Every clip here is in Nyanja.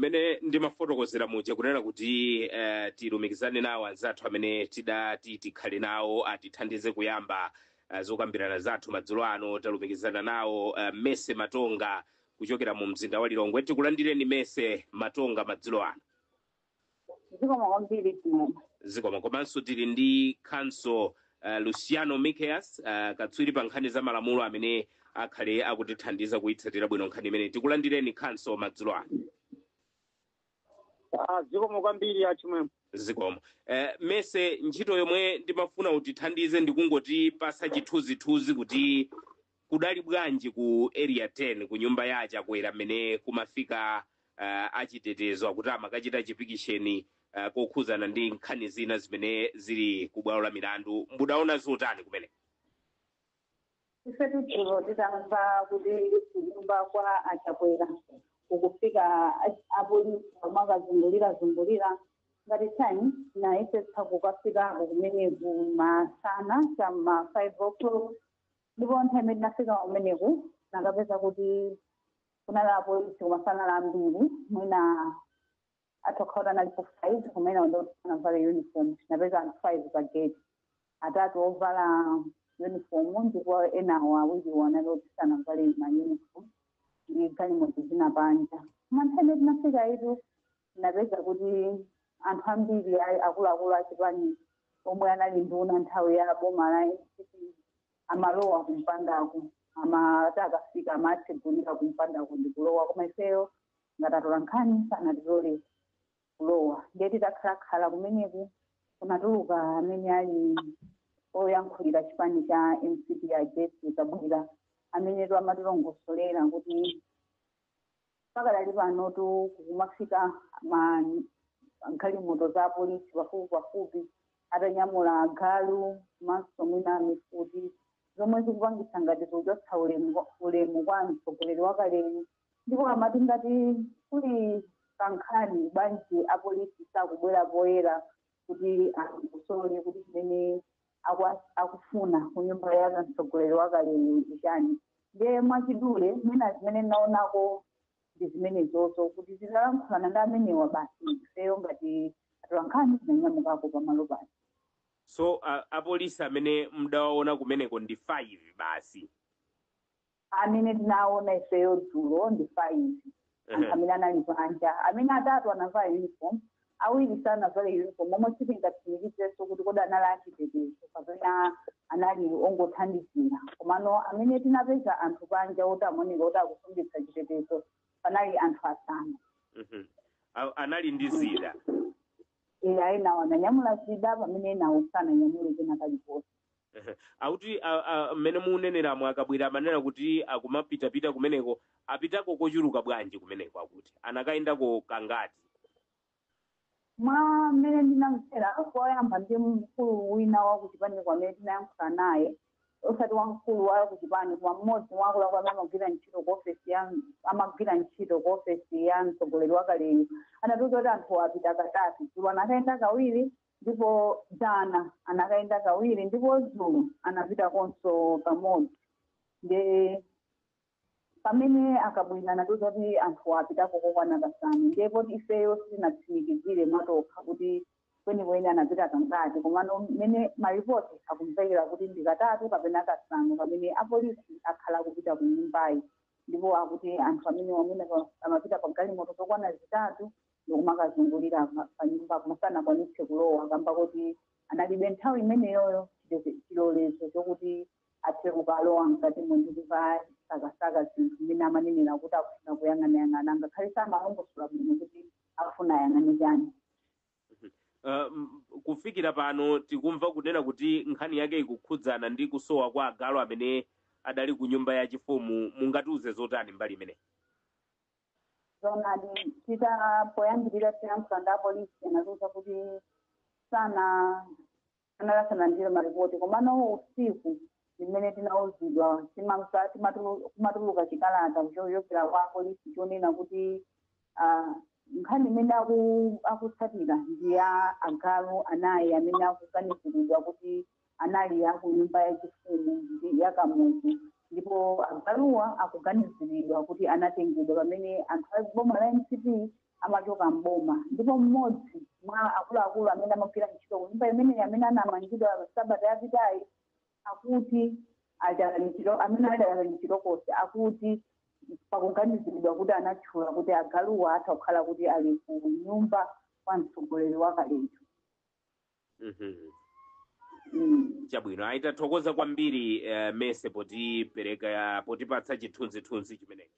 mmene ndimafotokozera muja kunena kuti eh, tilumikizane nawo anzathu amene tidati tikhale nawo atithandize kuyamba eh, zokambirana zathu madzulo ano talumikizana nawo eh, mese matonga kuchokera mu mzinda wa lilongwe tikulandireni mese matonga madzulo ano zikomo kwambiri achimwene zikomo komanso tili ndi counsel uh, luciano mickeus uh, katswiri pa nkhani za malamulo amene akhale akutithandiza kuyitsatira bwino nkhani imene tikulandireni counsel madzulo ano Ah, zikomo kwambiri achimwene zikomo eh, mese ntchito yomwe ndimafuna utithandize ndikungotipatsa chithunzithunzi kuti Kudali bwanji ku Area 10 kunyumba ya a Chakwera mmene kumafika uh, achitetezo akuti amakachita chipikisheni uh, kokhuzana ndi nkhani zina zimene zili ku bwalo la milandu. Mudaona zotani kumene? Ifetu dzulo titamva kuti kunyumba kwa a Chakwera kukufika a- apolisi omwe akuzungulirazungulira ngati Times tinayesetsa kukafikako kumeneko masana cha m'ma 5 o'clock ndipo nthawi imene tinafika kumeneko tinakapeza kuti kunali apolisi koma sanali ambiri mwina atha kukhala kuti analipo five koma enawo ndi oti sanavale uniform tinapeza anthu five pa gate atatu ovala uniform ndipo enawo awiriwo anali oti sanavale ma uniform ndi galimoto zina panja koma nthawi imene tinafika ifetu Tinapeza kuti anthu ambiri a akuluakulu a chipani omwe anali nduna nthawi ya boma la mcp amalowa kumpandako amati akafika amatsegulira kumpandako ndi kulowa koma ifeyo ngati atolankhani sanatilole kulowa ndiye titakhalakhala kumeneko kunatuluka amene ali oyankhulira chipani cha mcp a jessie kabwila amenetu amatilongosolera kuti pakadali panotu kukumafika ma galimoto za polisi pafupi pafupi atanyamula agalu komanso mwina mifuti zomwe zikupangitsa ngati kuchotsa ulemu kwa- ulemu kwa mtsogoleri wakaleyu ndipo amati ngati kulikadi nkhani bwanji apolisi sakubwera poyera kuti aulule kuti chimene aku akufuna kunyumba ya mtsogoleri wakaleyo ndi chani ndiye mwachidule mwina zimene tinaonako ndi zimenezozo kuti titalankhulana ndi amenewa basi ifeyo ngati atolankhani tinanyamukako pamalo paja so uh, apolisi amene mdawaona kumeneko ndi 5 basi amene tinaona ifeyo dzulo ndi five anthu Ehe. amene anali panja amene atatu anavala uniform awiri sanavale uniform omwe sitingatsimikizirenso kuti kodi anali achitetezo kapena anali ongothandizira komano amene tinapeza anthu panja oti amaoneka kuti akusungitsa chitetezo panali anthu asanu Mhm. A- anali ndi zida eya enawo ananyamula zida pamene enawo sananyamule kena kalikonse akuti mmene muneneramo a Kabwila amanena kuti akumapitapita kumeneko apitako kochuluka bwanji kumeneko akuti anakayendako kangati mwa mmene ndinamvera koyamba ndi mkulu wina wa kuchipaniko amene tinayankhula naye osati wamkulu wa kuchipani koma mmodzi mwa akuluakulu amene amagwira ntchito ku ofesi ya amagwira ntchito ku ofesi ya mtsogoleri wakaleyu anatiuza kuti anthu apita katatu dzulo anakayenda kawiri ndipo dzana anakayenda kawiri ndipo dzulo anapitakonso kamodzi nde pamene a Kabwila anatiuza kuti anthu apitako kokwana kasanu ndiye poti ifeyo sitinatsimikizire mwatokha kuti kwenikweni anapita kangati komano mmene maripoti akumvekera kuti ndi katatu kapena kasanu pamene apolisi akhala akupita ku nyumbayi ndipo akuti anthu amene amene amapita pa galimoto zokwana zitatu ndikumakazungulira pa- panyumba koma sanakwanitse kulowa kamba kuti analibe nthawi imeneyoyo chite- chilolezo chokuti athe kukalowa mkatimo ndi kukasakasaka zinthu zimene amanenera kuti akufuna kuyang'anayang'ana ngakhale samalongosola bwino kuti akufuna ayang'ane chani Uh, m- kufikira pano tikumva kunena kuti nkhani yake ikukhudzana ndi kusowa kwa agalu amene adali ku nyumba ya chifumu mungatiuze zotani mbali imeneyi zonadi tita- poyambirira tinayankhula ndi apolisi anatiuza kuti sana- anali asanalandire maripoti komano usiku zimene tinauzidwa timamva- timatulu- kumatuluka chikalata ku- chochokera kwa apolisi chonena kuti ah, nkhani imene aku- akutsatira ndi ya agalu anayi amene akuganiziridwa kuti anali aku nyumba yachifumu ndi ya Kamuzu ndipo agaluwa akuganiziridwa kuti anatengedwa pamene anthu a boma la mcp amachoka mboma ndipo mmodzi mwa akuluakulu amene amagwira ntchito ku nyumba imeneyi amene anamangidwa sabata yapitayi akuti amene akadali mchitokosi akuti pakuganiziridwa kuti anatchula kuti agaluwa atha kukhala kuti ali ku nyumba kwa mtsogoleri wakaleyo Mhm. Mm. chabwino ayi tathokoza kwambiri eh, mese potipereka potipatsa chithunzithunzi chimenechi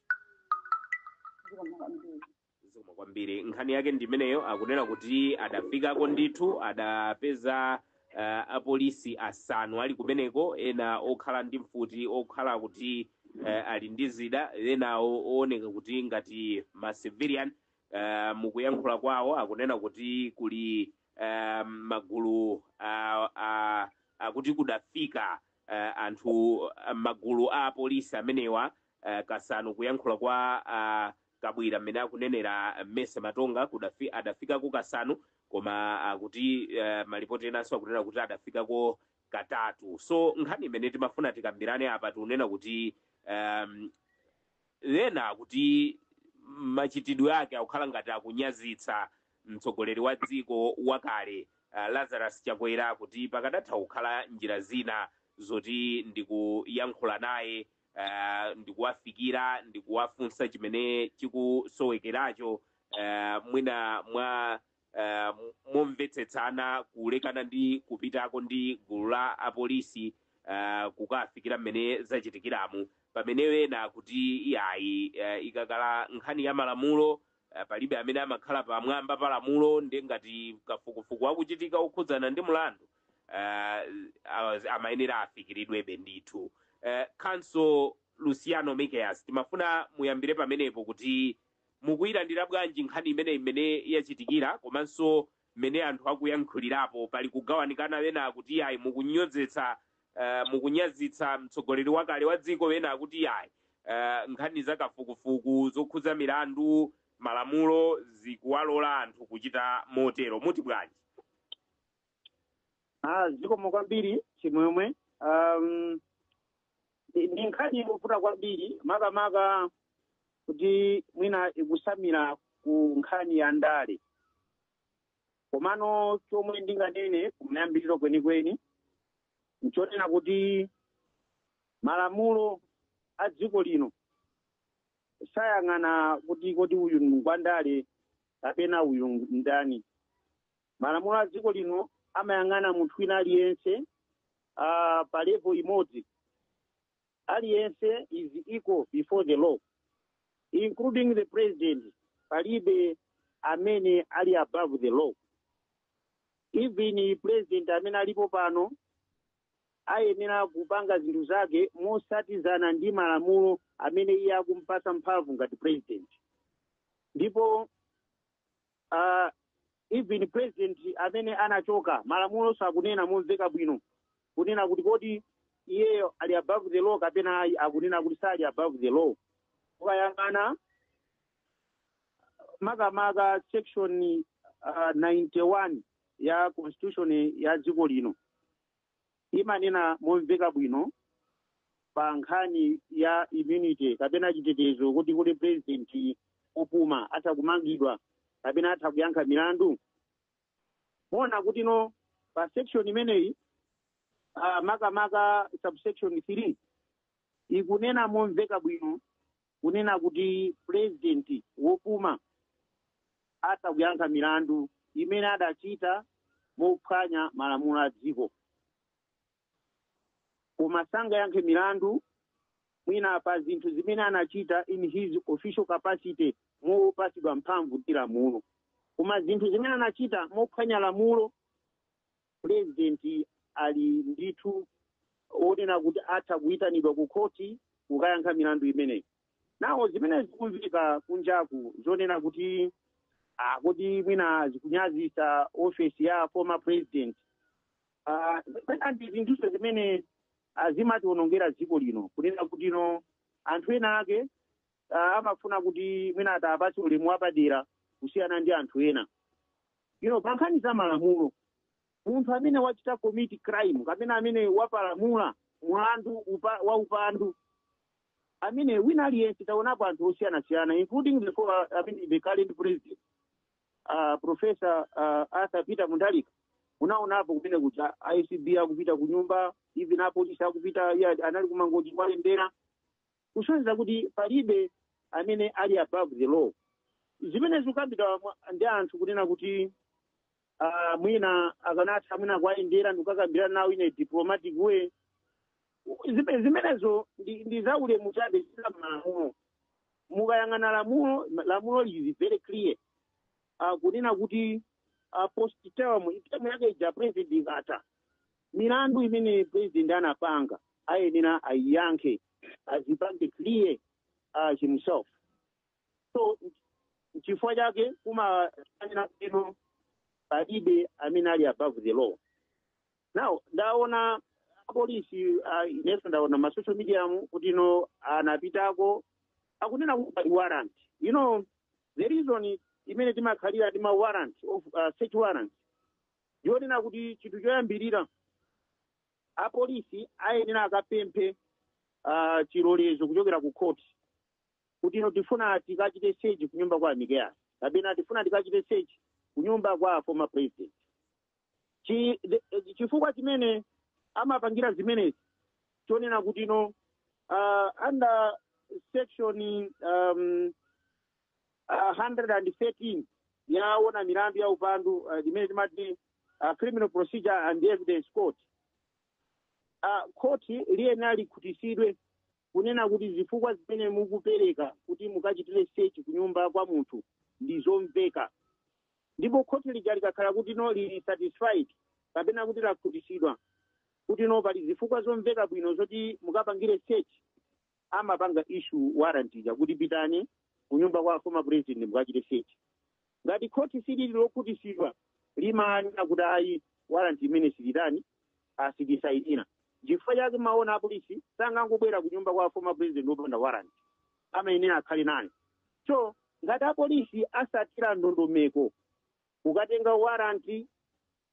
Zikomo kwambiri. zikomo kwambiri nkhani yake ndi imeneyo akunena kuti adafikako ndithu adapeza eh, apolisi asanu ali kumeneko ena okhala ndi mfuti okhala kuti eh, ali ndi zida ena ooneka kuti ngati ma civilian eh, mukuyankhula kwawo akunena kuti kuli ah, magulu ah, ah, akuti kudafika ah, anthu ah, magulu a apolisi amenewa ah, kasanu kuyankhula kwa ah, kabwira mmene akunenera mese matonga kudafi, adafikako kasanu koma akuti uh, malipoti enanso akunena kuti adafikako katatu so nkhani imene timafuna tikambirane apa tikunena kuti um, Ena akuti machitidwe ake akukhala ngati akunyazitsa mtsogoleri wa dziko wakale Lazarus Chakwera kuti pakadatha kukhala njira zina zoti ndikuyankhula naye, ndikuwafikira, ndikuwafunsa chimene chikusowekeracho mwina mwa. eh, momvetsetsana kulekana ndi kupitako ndi gulu la apolisi eh, kukafikira mmene zachitikiramu pamene ena akuti iyayi eh, ikakhala nkhani ya malamulo eh, palibe amene amakhala pamwamba pa lamulo ndi ngati kafukufuku akuchitika okhudzana ndi mlandu eh, awa- amayenera afikiridwebe ndithu eh, counsel luciano mickeus timafuna muyambire pamenepo kuti mukuyilandira bwanji nkhani imeneyi mmene yachitikira komanso mmene anthu akuyankhulirapo pali kugawanikana ena akuti yayi mukunyozetsa uh, mukunyazitsa mtsogoleri wakale wa dziko ena akuti yayi uh, nkhani za kafukufuku zokhudza milandu malamulo zikuwalola anthu kuchita motero muti bwanji Ah, zikomo kwambiri chimwemwe um, ndi nkhani yovuta kwambiri makamaka kuti mwina ikusamira ku nkhani ya ndale komano chomwe ndinganene kumayambiriro kwenikweni nchonena kuti malamulo a dziko lino sayang'ana kuti kodi uyu ngwandale kapena uyu ndani malamulo a dziko lino amayang'ana munthu wina aliyense uh, pa level imodzi aliyense is equal before the law including the president palibe amene ali above the law even president amene alipo pano ayenera kupanga zinthu zake mosatizana ndi malamulo amene iye akumpasa mphamvu ngati president ndipo uh, even president amene anachoka malamulonso akunena momveka bwino kunena kuti kodi iyeyo ali above the law kapena ayi akunena kuti sali above the law ukayang'ana makamaka section uh, 91 ya constitution ya dziko lino imanena momveka bwino pa nkhani ya immunity kapena chitetezo kuti kodi president opuma atha kumangidwa kapena atha kuyankha milandu muwona kuti no pa section imeneyi uh, makamaka subsection 3 ikunena momveka bwino kunena kuti president wopuma atha kuyankha milandu imene adachita mophwanya malamulo a dziko koma sangayankhe milandu mwina pa zinthu zimene anachita in his official capacity mopatsidwa mphamvu ndi lamulo koma zinthu zimene anachita mophwanya lamulo president ali ndithu wonena kuti atha kuyitanidwa ku khoti kukayankha milandu imeneyi nawo zimene zikumveka kunjaku zonena kuti ah, kodi mwina zikunyazisa ofesi ya former president Ah, ndi zinthuzo zimene ah, zimatiwonongera dziko lino kunena kuti no anthu ena ake ah, amafuna kuti mwina atawapatse ulemu wapadera kusiyana ndi anthu ena you know pa nkhani za malamulo munthu amene wachita commit crime kapena amene wapalamula mulandu upa, wa upandu amene wina aliyense taonapo anthu osiyanasiyana including the, former- I mean, the current president uh, professor uh, arthur peter mutharika unaonapo kumene kuja acb akupita kunyumba even apolisi akupita iye anali kumangochi kuwalembera kusonyeza kuti palibe amene ali above the law zimene zikukambidwa mwa- ndi anthu kunena kuti ah, mwina akanatha mwina kuwayendera ndikukakambirana nawo in a diplomatic way Zime- zimenezo ndi ndi za ulemu chabe si za malamulo mukayang'ana lamulo lamulo lili very clear Ah, kunena kuti ah, post term term yake ija ya president ikatha milandu imene president anapanga ayenera ayiyankhe adzipange clear uh, himself so chifukwa chake kumanena kuti palibe amene ali above the law now ndaona apolisi uh, inenso ndaona ma social media mu kuti no anapitako akunena kuti pali warrant you know the reason imene timakhalira ndi ma warrant of uh, search warrant ndiyonena kuti chinthu choyambirira apolisi ayenera akapemphe ah, chilolezo kuchokera ku khoti kuti ino tifuna tikachite search ku nyumba kwa a Mikeasi kapena tifuna tikachite search ku nyumba kwa former president Chi- the- eh, chifukwa chimene amapangira zimenezi chonena kuti ino ah, under section um, ah, 113 yaona milandu ya upandu ah, limene timati ah, criminal procedure and evidence code Ah, khoti liyenera likhutisidwe kunena kuti zifukwa zimene mukupereka kuti mukachitire search kunyumba kwa munthu ndi zomveka ndipo khoti lija likakhala kuti no lili satisfied kapena kuti lakhutisidwa kuti no pali zifukwa zomveka bwino zoti mukapangire search amapanga issue warrant ija kuti pitani kunyumba kwa former president mukachite search ngati khoti silili lokhutisidwa limanena kuti ayi warrant imeneyi sititani sitisainira chifukwa chake mumaona apolisi sangangobwera kunyumba kwa former president opanda warrant amayenera akhale nayo so ngati apolisi asatira ndondomeko kukatenga warrant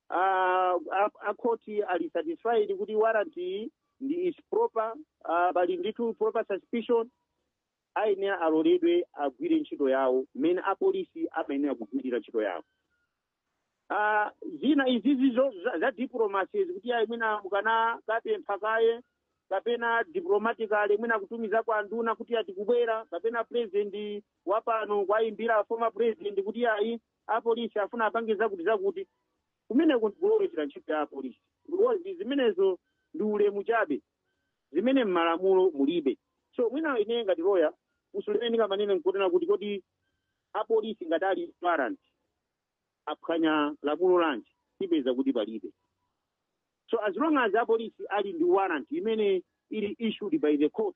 ah, a- a khoti ali satisfied kuti warrant iyi ndi is proper ah, pali ndithu proper suspicion ayenera aloledwe agwire ntchito yawo mmene apolisi amayenera kugwirira ntchito yawo Ah, zina izizi zo- za- za diplomacy zakuti ayi mwina mukanakapempha kaye kapena diplomatically mwina kutumiza kwa nduna kuti a tikubwera kapena president wapano kuwayimbira former president kuti ayi apolisi afuna apange zakuti zakuti kumeneko ndikulowerera ntchito ya apolisi because zimenezo ndi ulemu chabe zimene m'malamulo mulibe so mwina ineyo ngati loya usulene ndingamanene nkuonera kuti kodi apolisi ngati ali ndi warrant aphwanya lamulo lanji tipeza kuti palibe so as long as apolisi ali ndi warrant imene ili issued by the court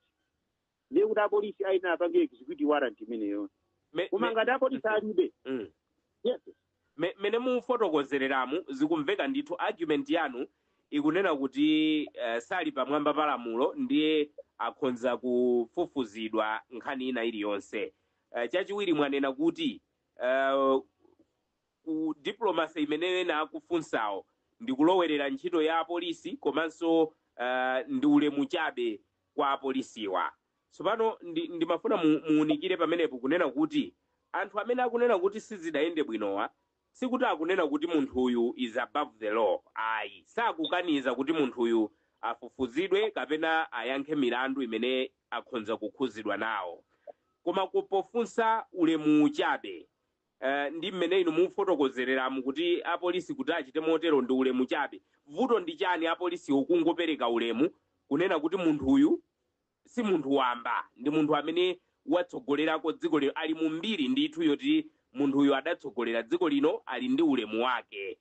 ndiye kuti apolisi ayenera apange execute warrant imeneyo Me- koma me- ngati apolisi alibe Mm. yes Me- mene mufotokozereramu zikumveka ndithu argument yanu ikunena kuti uh, sali pamwamba pa lamulo ndiye akhonza kufufuzidwa nkhani ina iliyonse uh, chachiwiri mwanena kuti uh, ku diplomacy imene ena akufunsawo ndi kulowerera ntchito ya apolisi komanso uh, ndi ulemu chabe kwa apolisiwa. Tsopano ndi, ndimafuna mu, muunikire pamenepo kunena kuti anthu amene akunena kuti sizidayende bwinowa sikuti akunena kuti munthuyu is above the law ayi, sakukaniza kuti munthuyu afufuzidwe kapena ayankhe milandu imene akhonza kukhuzidwa nawo koma ku pofunsa ulemuwu chabe. Eh, ndi mmene inu mufotokozereramu kuti apolisi kuti achite motero ndi ulemu chabe vuto ndi chani apolisiwo kungopereka ulemu kunena kuti munthuyu si munthu wamba ndi munthu amene watsogolerako dziko lino ali mu mbiri ndithu yoti munthuyu adatsogolera dziko lino ali ndi ulemu wake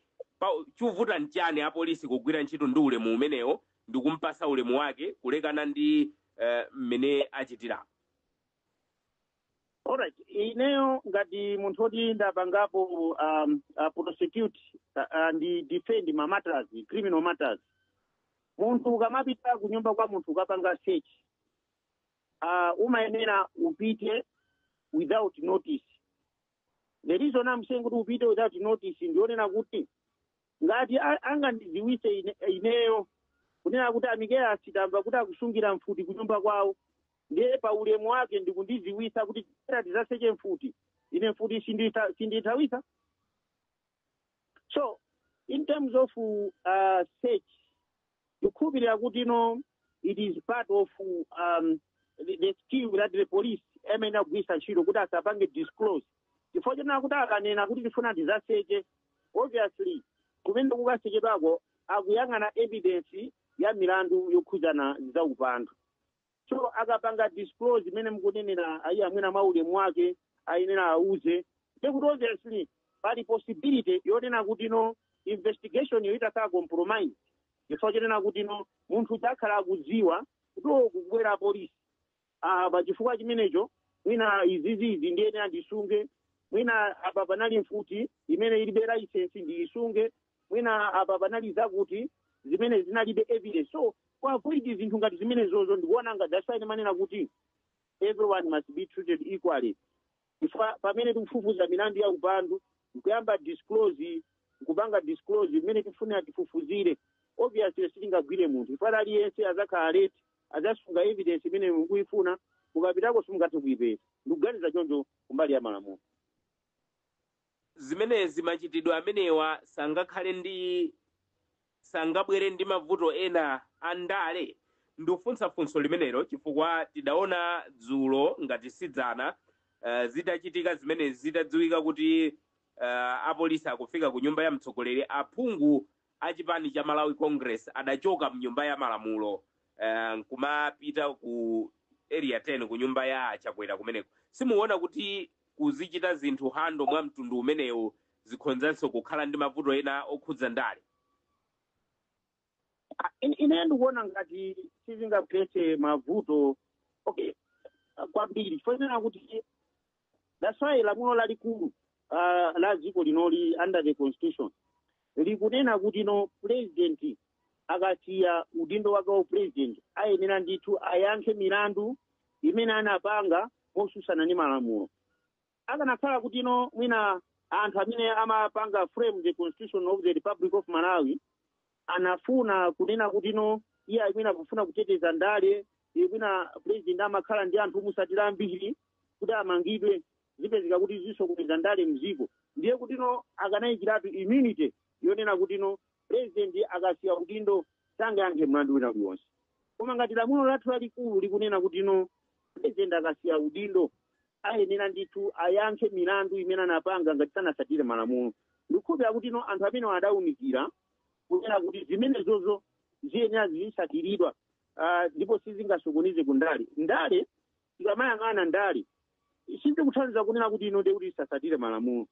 chovuta nchani apolisi kugwira ntchito ndi ulemu umenewo ndi kumpasa ulemu wake kulekana ndi eh, mmene achitira Alright, ineyo ngati munthu woti ndapangapo um, uh, prosecute uh, uh, ndi defend ma matters, criminal matters. Munthu ukamapita ku nyumba kwa munthu kukapanga search. Uh, umayenera upite without notice. The reason I'm saying kuti upite without notice ndi yonena kuti ngati a- angandidziwitse ine- ineyo kunena kuti amikeasi tamva kuti akusungira mfuti kunyumba kwawo ndiye pa ulemu wake ndikundidziwitsa kuti tera tizaseche mfuti ine mfuti ndiitha- sindiithawitsa so in terms of uh, search ndikukhulupirira kuti no it is part of um, the, the skill that the police amayenera kugwiritsa ntchito kuti asapange disclose chifukwa chonena kuti akanena kuti tifuna tizaseche obviously kumene kukasechedwako akuyang'ana evidence ya milandu yokhudzana zaupandu so akapanga disclose imene mukunenera ija mwina mwa ulemu wake ayenera auzidwe ndekuti obviously pali possibility yonena kuti no investigation yo itha kukhala compromise chifukwa chonena kuti no munthu adzakhala akudziwa kuti o kukubwera apolisi Ah, pa chifukwa chimenecho mwina izizi izi ndiyenera ndisunge mwina apa panali mfuti imene ilibe laisensi ndiyisunge mwina apa panali zakuti zimene zinalibe evidence so ku avoid zinthu ngati zimenezozo ndikuona ngati that's why ndimanena kuti everyone must be treated equally chifukwa pamene tikufufuza milandu ya upandu nkuyamba disclose nkupanga disclose imene tifunira tifufuzire obviously sitingagwire munthu chifukwa aliyense azakhala alert azasunga evidence imene mukuyifuna mukapitako simungathe kuyipeza ndikuganiza choncho kumbali ya malamulo zimenezi machitidwe amenewa sangakhale ndi sangabwere ndi mavuto ena a ndale ndikufunsa funso limeneli chifukwa tidaona dzulo ngati sidzana uh, zitachitika zimenezi zitadziwika kuti uh, apolisi akufika ku nyumba ya mtsogoleri aphungu a chipani cha Malawi Congress adachoka mnyumba ya malamulo eh, nkumapita ku area 10 ku nyumba ya a Chakwera kumeneko. Simukuona kuti kuzichita zinthu hando mwa mtundu umenewu zikhonzanso kukhala ndi mavuto ena okhudza ndale. Ah, in- ine ndikuona ngati sizingapereke mavuto okay ah, kwambiri chifukwa chonena kuti that's why lamulo lalikulu uh, la dziko linoli under the constitution likunena kuti no president akasiya udindo wake wa president ayenera ndithu ayankhe milandu imene anapanga motsutsana ndi malamulo akanakhala kuti no mwina anthu amene amapanga frame the constitution of the republic of malawi anafuna kunena kuti no iye amene akufuna kuteteza ndale mwina president amakhala ndi anthu omutsatira ambiri kuti amangidwe zipezeka kuti zisokoneza ndale mziko ndiye kuti no akanayikiratu immunity yonena kuti no president akasiya udindo sangayankhe mlandu wina uliwonse koma ngati lamulo lathu lalikulu likunena kuti no president akasiya udindo ayenera ndithu ayankhe milandu imene anapanga ngati sanatsatire malamulo ndikukhulupirira kuti no anthu amene adaunikira kunena kuti zimenezozo ziyenera zizitsatiridwa ah, ndipo sizingasokoneze ku ndale ndale zikamayang'ana ndale sizikutanthauza kunena kuti no ndekuti zisatsatire malamulo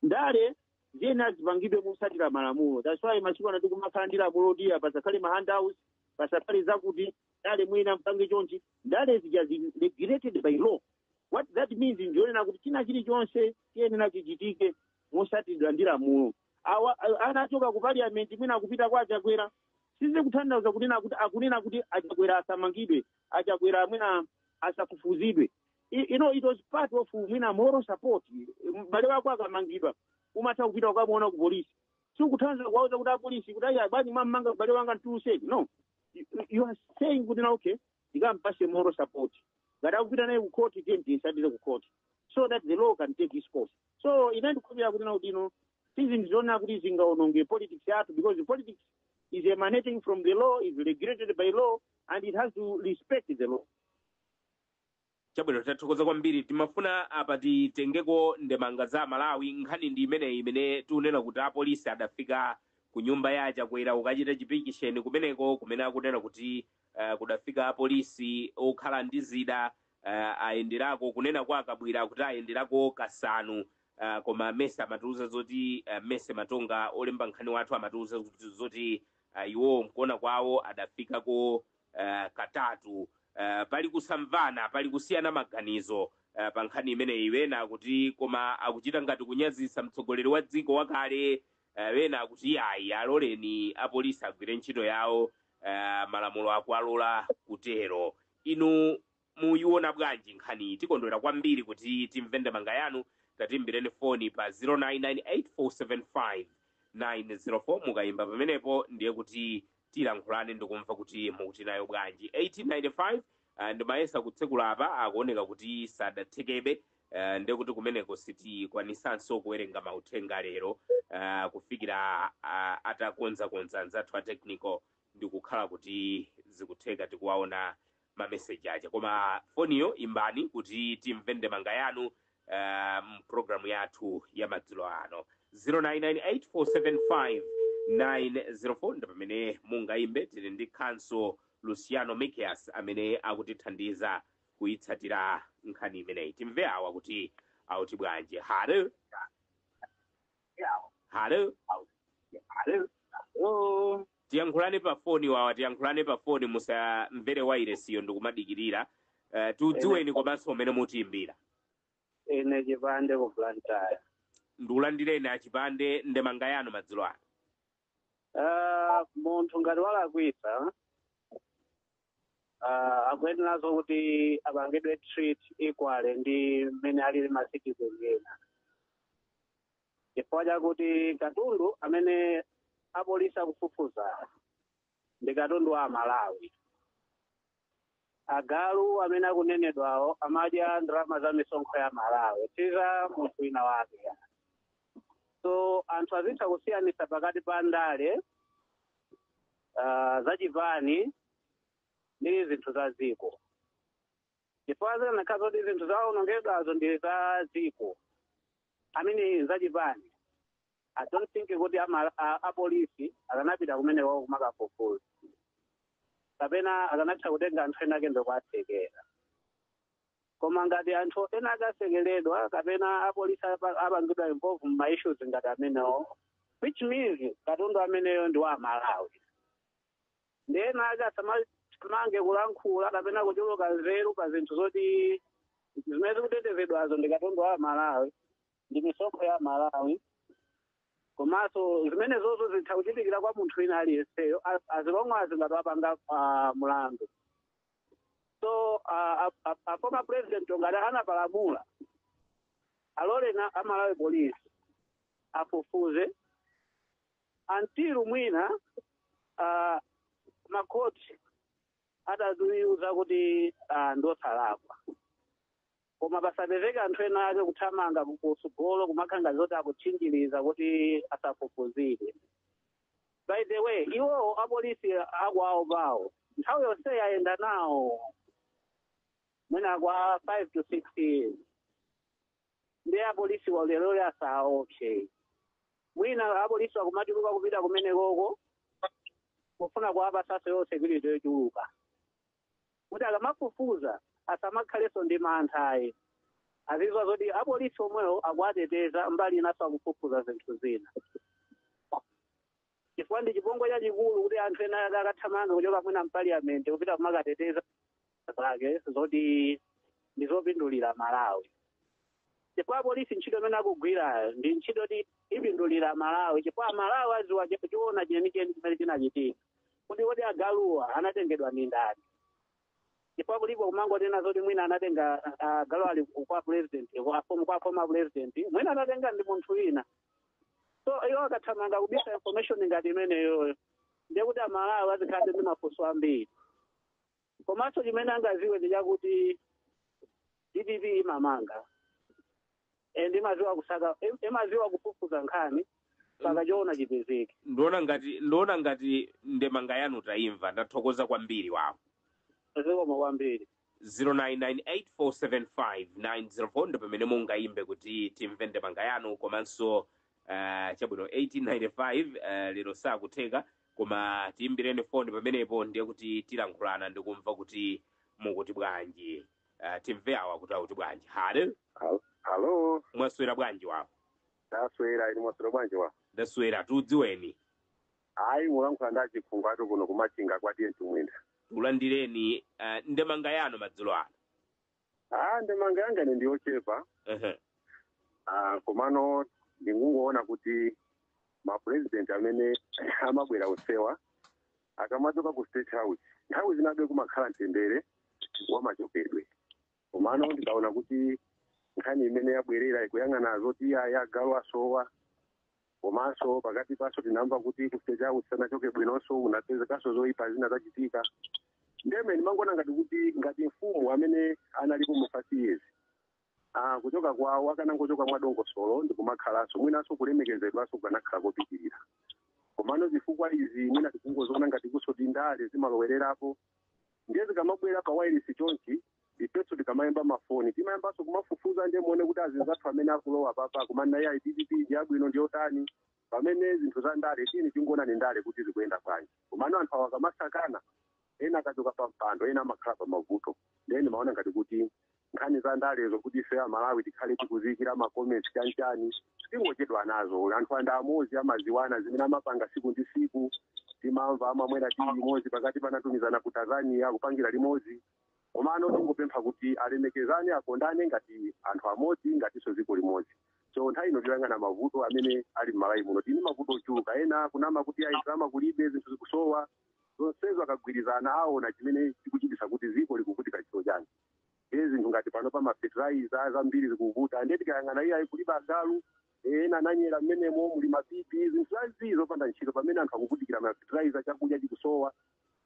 ndale ziyenera zipangidwe motsatira malamulo that's why masiku ano tikumakhala ndi lamulo loti apa pasakhale ma handouts pasakhale zakuti ndale muyenera mpange chonchi ndale zija zili regulated by law what that means ndionena kuti china chilichonse chiyenera chichitike motsatiridwa ndi lamulo awa a- anachoka ku parliament mwina akupita kwa achakwera sizikutanthauza kunena kuti akunena kuti achakwera asamangidwe achakwera mwina asafufuzidwe I- you know it was part of mwina moral support m'bale wako akamangidwa umatha kupita ukamuona ku polisi sikutanthauza kuwauza kuti apolisi kuti ayi bwanji mwammanga m'bale wanga mtuluseni no You- you are saying kuti no okay ndikampatse moral support ngati akupita naye ku court tiye ndiyitsatire ku court so that the law can take its course so ine ndikukhulupirira kuti no kuti no sindikuona kuti zingaononge politics yathu because politics is emanating from the law is regulated by law and it has to respect the law chabwino tathokoza kwambiri timafuna apa titengeko ndemanga za amalawi nkhani ndi imeneyi imene tikunena kuti apolisi adafika ku nyumba ya chakwera kukachita chipikisheni kumeneko kumene akunena kuti uh, kudafika apolisi okhala ndi zida uh, ayenderako kunena kwa akabwira kuti ayenderako kasanu uh, koma mese amatiuza zoti uh, mese matonga olemba nkhani wathu amatiuza kuti- zoti uh, iwo mkuona kwawo adafikako uh, katatu uh, pali kusamvana pali kusiyana maganizo uh, pa nkhani imeneyi wena kuti koma akuchita ngati kunyazitsa mtsogoleri wa dziko wakale eh, ena akuti iyayi aloleni apolisi agwire ntchito yawo eh, malamulo akuwalola kutero inu muyiona bwanji nkhani tikondwera kwambiri kuti timve ndemanga yanu tatimbireni foni pa 0998475904 mukayimba pamenepo ndiye kuti tilankhulane ndikumva kuti mukuti nayo bwanji 1895 uh, ndimayesa kutsekula apa akuoneka kuti sadathekebe uh, nde kuti kumeneko sitikwanisanso kuwerenga mauthenga lero uh, kufikira uh, atakonzakonza anzathu a technical ndikukhala kuti zikutheka tikuwaona mameseji aja koma foniyo imbani kuti timve ndemanga yanu uh, m'pulogalamu yathu ya madzulo ano 0998475904 ndi pamene mungayimbe tili ndi khanso luciano mikias amene akutithandiza kuyitsatira nkhani imeneyi timve awa kuti auti bwanji halo halo Hello. tiyankhulane pa foni wawa tiyankhulane pa foni musamvere wairesiyo ndikumadikirira uh, tidziweni komanso kumene mukutiimbira Ine chipande ku Blantyre. ndikulandireni a Chipande ndemanga yanu madzulo ano Ah, munthu ngati walakwitsa ah, akuyeneranso kuti apangidwe treat equally ndi mmene alili ma citizen ena chifukwa chakuti katundu amene apolisi akufufuza ndi katundu wa amalawi agalu amene akunenedwawo amadya ndalama za misonkho ya malawi si za munthu wina wake so anthu azitha kusiyanitsa pakati pa ndale ah, zachipani ndi zinthu za dziko chifukwa zikanakhala zoti zinthu zawonongedwazo ndi za dziko I mean zachipani i don't think kuti ama- a- apolisi akanapita kumeneko kumakafufuza kapena akanatha kutenga anthu ena ake ndikuatsekera koma ngati anthu ena akatsekeredwa kapena apolisi apa- apangidwa involve mma issues ngati amenewo which means katundu ameneyo ndi wa amalawi nde ena ake asamathamange kulankhula kapena kuchuluka nzeru pa zinthu zoti zimene zikutetezedwazo ndi katundu wa amalawi ndi misonkho ya malawi komanso zimenezozo zitha kuchitikira kwa munthu wina aliyenseyo a- as long as ngati wapanga ah, mlandu so ah, a- a- a former president ngati anapalamula alole a malawi police afufuze until mwina ah, makhoti atatiuza kuti ah, ndi osalakwa koma pasapezeka anthu ena ake kuthamanga kutsogolo kumakhala ngati zoti akutchinjiriza kuti asafufuzidwe by the way iwowo apolisi akwawo pawo nthawi yonse ayenda nawo mwina kwa five to six years ndi apolisi olo lero asaopse mwina apolisi akumachuluka kupita kumenekoko kufuna kuwapatsanso yo security yochuluka kuti akamafufuza asamakhalenso ndi mantha ayi azidziwa zoti apolisi omwewo akuwateteza mbali inanso akufufuza zinthu zina chifukwa ndi chipongwe chachikulu kuti anthu ena ake akuthamanga kuchoka mwina mpaliyamenti kupita kumakateteza zake zoti ndizopindulira amalawi chifukwa apolisi ntchito imene akugwirayo ndi ntchito ti ipindulira amalawi chifukwa amalawi aziwa chi- choona chenicheni chimene chinachitika kuti kodi agaluwa anatengedwa ndi ndani chifukwa kulipo kumangonena zoti mwina anatenga ah, agalu ali ku- kwa president kwa form- kwa former president mwina anatenga ndi munthu wina so iwo akathamanga kubisa information ngati imeneyoyo ndiye kuti amalawi azikhalabe ndi mafunso ambiri komanso chimene angaziwe ndi chakuti dpp imamanga and imaziwa kusaka im- imaziwa kufufuza nkhani saka choona chipezeke ndiona ngati ndiona ngati ndemanga yanu tayimva ndathokoza kwambiri wawo zikomo kwambiri 0998475904 ndi pamene mungayimbe kuti timve ndemanga yanu komanso uh, chabwino 1895 uh, lero sakutheka koma tiyimbireni foni pamenepo ndiye kuti tilankhulana ndikumva kuti mukuti bwanji uh, timve awa kuti akuti bwanji halo Hal- Halo, mwaswera bwanji wawo ndaswera inu mwaswera bwanji wawo ndaswera tikudziweni Ayi mulankhula ndi achifunga tu kuno kumachinga kwa TA ntumbwinda. takulandirani uh, ndemanga yanu madzulo ano Ah, ndemanga yanga ine ndi yochepa Ehe. Ah, komano ndingungoona kuti mapurezidenti amene amabwera onsewa akamachoka ku state house nthawi zinabe kumakhala mtendere wamachokedwe komano ndikaona kuti nkhani imene yabwerera ikuyang'ana zoti ayi agalu asowa komanso pakati panso tinamva kuti ku state house asanachoke bwinonso kunapezekanso zoyipa zina zachitika ndiye ine ndimangoona ngati kuti ngati mfumu amene analipo mu five years ah, kuchoka kwawo akanangochoka mwadongosolo ndikumakhalanso mwinanso kulemekezedwanso kukanakhala kopitirira komano zifukwa izi mwina tikungoziona ngati kutinso ndale zimalowererapo ndiye zikamabwera pa wailesi chonchi ifenso tikamayimba mafoni timayambanso kumafufuza ndiye muone kuti azinzathu amene akulowa papa kumana ya dpp ndi yabwino ndi yotani pamene zinthu za ndale tini tingoonani ndale kuti zikuyenda bwanji komano anthu awa akamasankhana ena akachoka pa mpando ena amakhala pa mavuto ndiye ndimaona ngati kuti nkhani za ndalezo kuti ife amalawi tikhale tikuziyikira ma comments chanchani tingochedwa nazo anthu aja ndi amozi amaziwana zimene amapanga siku ndi siku timamva amamwera tiyi limodzi pakati panatumizana ku tanzania kupangira limodzi komano tingopempha kuti alemekezane akondane ngati anthu amodzi ngatinso dziko limodzi so nthawi ino tiyang'ane mavuto amene ali mmalawi muno tili mavuto ochuluka ena kunama kuti ayi ndalama kulibe zinthu zikusowa zonsezo akagwirizana aona chimene chikuchitisa kuti dziko likuvutika chito chani ndiye zinthu ngati pano pa mafertilizer zambiri zikuvuta ndiye tikayang'ana iye ayi kulibe agalu eh, ena ananyera mmenemo muli mapipi zinthu zazii zopanda ntchito pamene anthu akuvutikira mafertilizer chakudya chikusowa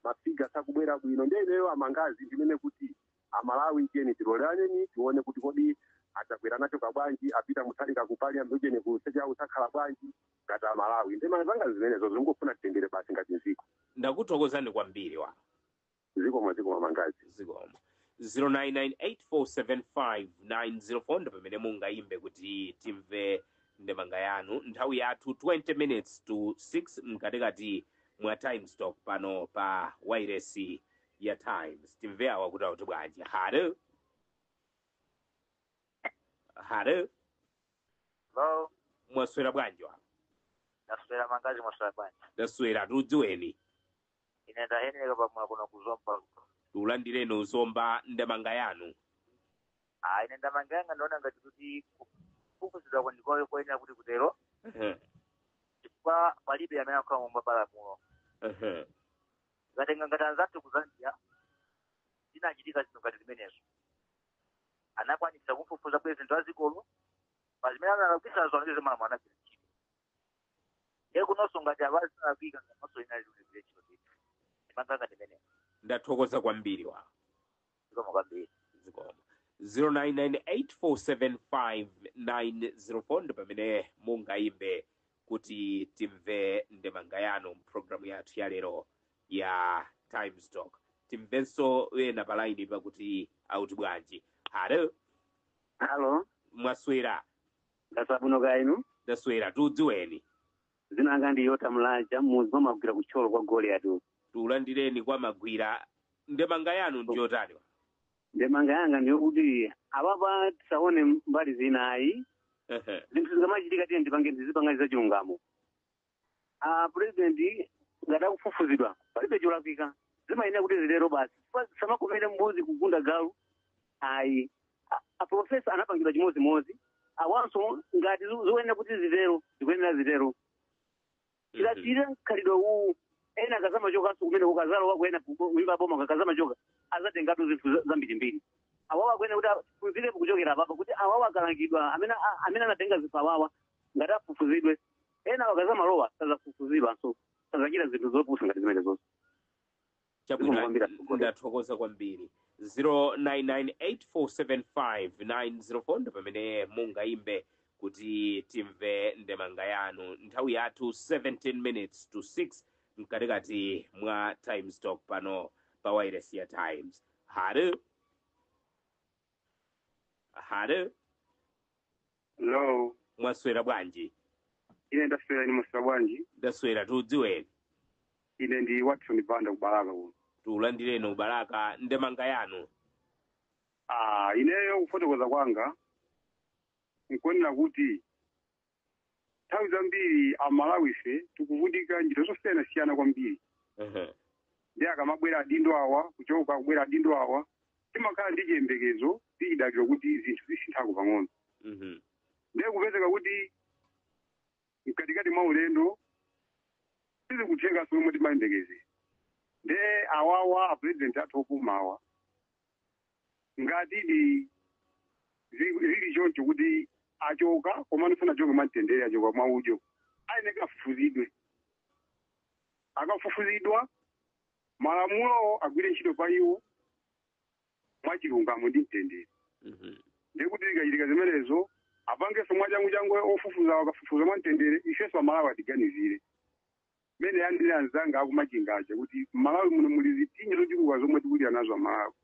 mafiga sakubwera bwino ndiye ineyo ndemanga zanga ndinene kuti amalawi tiyeni tilolerane tione kuti kodi adzakwera nacho kabwanji a Peter Mutharika kupali ambujeni kusecha usakhala bwanji ngati amalawi ndemanga zanga zimenezo tingofuna mtendere basi ngati dziko ndakuthokozani kwambiri wa zikomo zikomo mangazi zikomo 0998475904 ndi pamene mungayimbe kuti timve ndemanga yanu nthawi yathu 20 minutes to 6 mkatikati mwa times talk pano pa wairesi ya times timve awa kuti auti bwanji halo halo lo mwaswera bwanji wa ndaswera mangazi mwaswera bwanji ndaswera tikudziweni ine ndaheneka pamwe kuno kuzomba tikulandireni kuzomba ndemanga yanu ah ine ndemanga yanga ndaona ngati kuti kufufuzidwa kwandikoyo koyenera kuti kutero Ehe, chifukwa palibe amene ali pamwamba palamulo ehe. mukatenga ngati anzathu kuzambia zinachitika zinthu ngati zimenezo anakwanisa kufufuza pulezidenti wa dzikolo pa zimene analakwisa zona zomwe malamulo anagwira ntchito e kunonso ngati avazavika nganonso inali liberation ndithu ndemanga yanga ndi imeneyi ndathokoza kwambiri wa zikomo kwambiri zikomo 0998475904 ndi pamene mungayimbe kuti timve ndemanga yanu mpulogalamu yathu ya lero ya times talk timvenso ena palainipa kuti auti bwanji halo halo mwaswera ndaswera bwino kaya inu ndaswera tikudziweni dzina langa ndi yota mlaja mmudzi mwa magwira kuthyolo kwa goliyati uku tikulandireni kwa magwira ndemanga yanu ndiyotani ndemanga yanga ndiyokuti apapa tisaone mbali zinayi zinthu zikamachitika tiyeni tipangeni tizipanga za chilungamo a president ngati akufufuzidwa palibe cholakwika zimayenera kuti zitero basi Chifukwa zisamakomere mbuzi kugunda galu ayi A- aprofesa anapangidwa chimodzimodzi awanso ngati zi- zikuyenera kuti zitero zikuyenera zitero tikasiyirira mkhalidwe uwu ena akazamachokanso kumene akazalowako ena kumpando wa boma akazamachoka azatengatu zinthu za- zambirimbiri awawa akuyenera kuti afufuzidwepo kuchokera apapa kuti awawa akalangidwa amene a- amene anatenga zinthu awawa ngati afufuzidwe ena akazamalowa azafufuzidwanso sazachita zinthu zopusa ngati zimenezozo chabwino ndathokoza kwambiri 0998475904 ndi pamene mungayimbe kuti timve ndemanga yanu nthawi yathu 17 minutes to 6 mkatikati mwa times talk pano pa wailesi ya times halo halo Hello. mwaswera bwanji Ine ndaswera inu mwaswera bwanji. ndaswera tikudziweni Ine ndi Watson Banda ku Balaka kuno. tikulandireni ku Balaka ndemanga yanu Ah, ineyo kufotokoza kwanga nkuonera kuti nthawi zambiri amalawi ife tikuvutika njira zosiyanasiyana kwambiri Ehe. ndi akamabwera adindo awa kuchoka kubwera adindo awa timakhala ndi chiyembekezo ndi chidaliro kuti zinthu zisinthako pang'ono Mhm. ndiye kupezeka kuti mkatikati mwa ulendo sizikutheka zomwe timayembekezera nde awawa apurezidenti athu opumawa ngatidi zi- zili choncho kuti achoka komano sanachoke mwamtendere achoka mwa udyo ayeneka afufuzidwe akafufuzidwa malamulowo agwire ntchito pa iwo mwachilungamo ndi mtendere Mhm. ndiye kuti zikachitika zimenezo apangenso mwachanguchangu ofufuzawo akafufuza mwa mtendere ifenso amalawi atiganizire mene anenera anzanga aku Machinga aja kuti mmalawi muno muli zipsinjo zochuluka zomwe tikulira nazo amalawi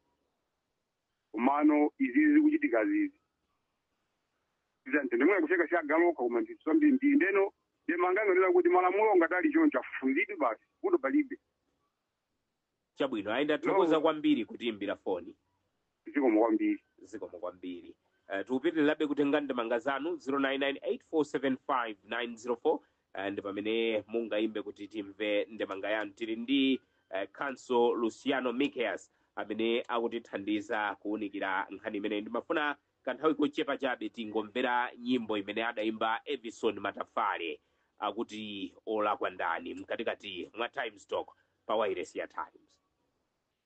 komano izizi zikuchitika zizi za ntengemwene kuseka chagaloka koma ndithu zambiri ndi ndeno ndemanga yanga nkunena kuti malamulo ngati ali choncho afufuzidwe basi kuno palibe chabwino ayi ndathokoza No. kwambiri kutiimbira foni zikomo kwambiri zikomo kwambiri uh, tikupitirirabe kutenga ndemanga zanu 0998475904 Eh, ndi pamene mungayimbe kuti timve ndemanga yanu tili ndi eh, counsel luciano mickeus amene akutithandiza kuwunikira nkhani imeneyi ndimafuna kanthawi kochepa chabe tingomvera nyimbo imene adayimba evison matafale akuti olakwa ndani mkatikati mwa times talk pa wailesi ya times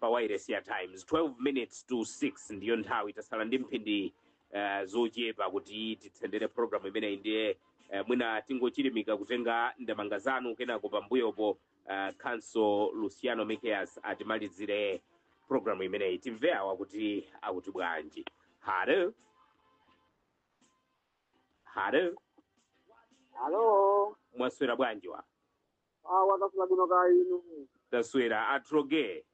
pa wailesi ya times 12 minutes to 6 ndiyo nthawi tasala ndi mphindi uh, zochepa kuti titsendere programu imeneyi ndiye uh, mwina tingochilimika kutenga ndemanga zanu kenako pambuyopo uh, khanso luciano mikias atimalizire programu imeneyi timve awa kuti akuti bwanji halo halo Halo, mwaswera bwanji wa awo taswera bwino kaya inu taswera atroge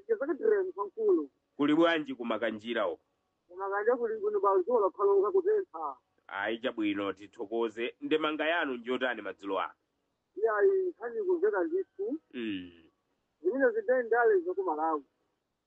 tizakitireni kwankulu kuli bwanji kumakanjira uko kumakanjira kuli bwino pa dzuwa lapaloka kutentha ayi chabwino tithokoze ndemanga yanu njotani madzulo ano iyayi nkhani kumveka ndithu mm. zimene zandale zakumalawi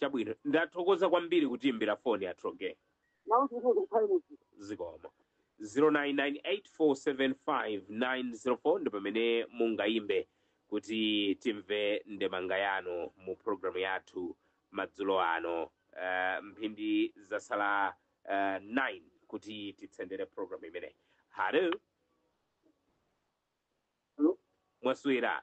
Chabwino, ndathokoza kwambiri kutiimbira foni atroge. nawo ndikuthokoza inu Zikomo. 0998475904 ndi pamene mungayimbe kuti timve ndemanga yanu mu programu yathu madzulo ano. Uh, mphindi zatsala uh, 9 kuti titsendere programu imeneyi. Halo, Hello? mwaswera.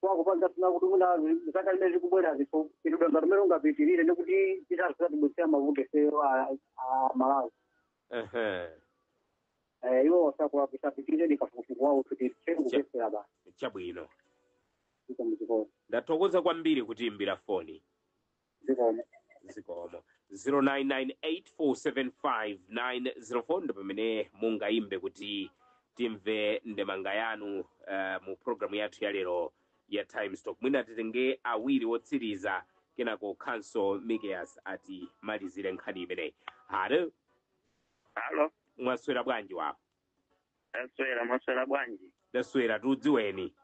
kwakupanga sina kuti mwina zaka zimene zikubwerazi tidangotere mungapitirire ndi kuti zisadzatibweretsere mavuto ifeyo a a malawi ehe Eh, iwo wasakuwapisapitirire ndikafukufuku wawo kuti tcheni kupesera basi chabwino iko muzikolo ndathokoza kwambiri kutiimbira foni zikomo zikomo 0998475904 ndi pamene mungayimbe kuti timve ndemanga yanu uh, mu programu yathu ya lero ya times talk mwina titenge awiri wotsiriza kenako khanso mikias atimalizire nkhani imeneyi halo alo mwaswera bwanji wawo taswera mwaswera bwanji ndaswera tikudziweni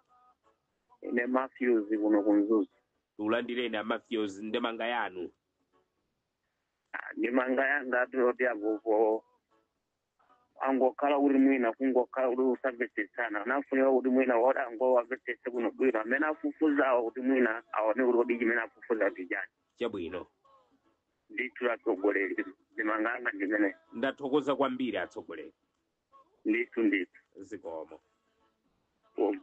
ine matthews kuno kumzuzu tikulandireni a matthews ndemanga yanu Ah, ndemanga yanga ndiyoti agogo angokhala kuti mwina kungokhala kuti kusamvetsetsana anafunika kuti mwina woti angowamvetsetsa bwinobwino amene afufuzawo kuti mwina aone kuti kodi chimene afufuza ndi chani chabwino ndithu atsogoleri ndemanga yanga ndi imeneyo ndathokoza kwambiri atsogoleri ndithu ndithu zikomo zikomo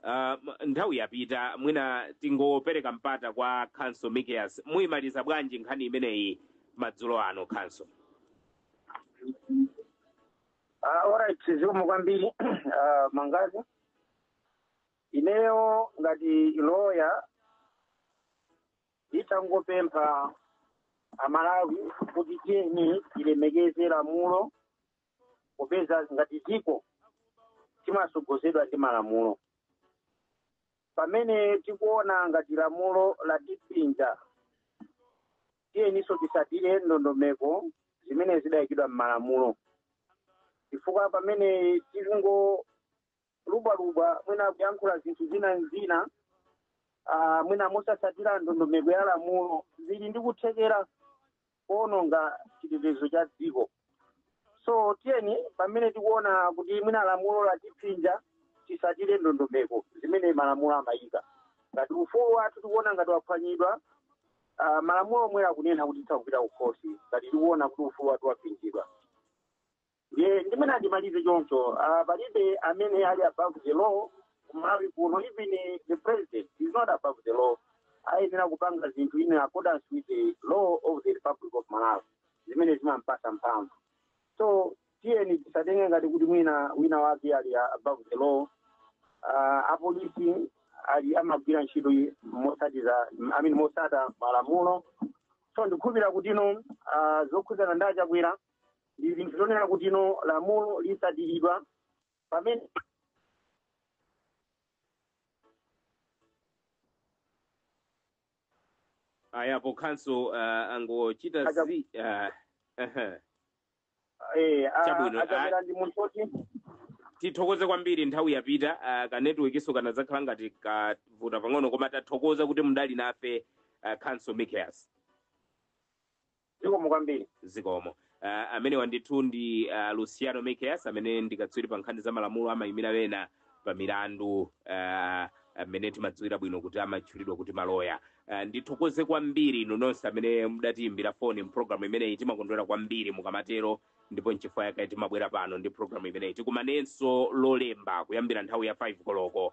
Ah, m- nthawi yapita mwina tingopereka mpata kwa khanso mikias muyimaliza bwanji nkhani imeneyi madzulo ano khanso Ah, alright zikomo kwambiri Ah, mangazi ineyo ngati loya nditangopempha amalawi kuti tiyeni tilemekeze lamulo popeza ngati dziko timasogozedwa ndi malamulo pamene tikuona ngati lamulo latipinja tiyeninso tisatire ndondomeko zimene zidayikidwa m'malamulo chifukwa pamene tilingo kulubwalubwa mwina kuyankhula zinthu zina nzina ah, mwina mosasatira ndondomeko ya lamulo zili ndi kuthekera kuononga chitetezo cha dziko so tiyeni pamene tikuona kuti mwina lamulo latipinja tisatire ndondomeko zimene malamulo amayika ngati ufulu wathu tikuona ngati waphwanyidwa ah, malamulo omwe akunena kuti titha kupita kukhosi ngati tikuona kuti ufulu wathu wapinjidwa Ndiye ndimene andimalize choncho ah, palibe amene ali above the law kumalawi kuno even the president is not above the law ayenera kupanga zinthu in accordance with the law of the republic of malawi zimene zimampasa mphamvu so tiyeni tisatenge ngati kuti mwina wina wake ali above the law uh, apolisi ali amagwira ntchito yi- mosatiza I mean, mosatira malamulo so ndikukhulupirira kuti ino uh, zokhudzana ndi achakwera ndi zinthu zonena kuti ino lamulo lisatiridwa pamene ayapo counsel uh, angochita Acha- zi uh, ehe. eh, a- Chabwino, achakwera ndi munthu oti tithokoze kwambiri nthawi yapita uh, ka networkiso kanazakhala ngati kavuta pang'ono koma tathokoza kuti mudali nafe uh, counsel mikias zikomo kwambiri zikomo uh, amenewa ndithu ndi uh, luciano mikias amene ndi katswiri pa nkhani za malamulo amayimira ena pa milandu uh, amene timadziwira bwino kuti amatchulidwa kuti maloya uh, ndithokoze kwambiri inu nonse amene mudatiyimbira foni mpulogalamu imeneyi timakondwera kwambiri mukamatero ndipo nchifukwa yake timabwera pano ndi pulogalamu imeneyi tikumanenso lolemba kuyambira nthawi ya 5 koloko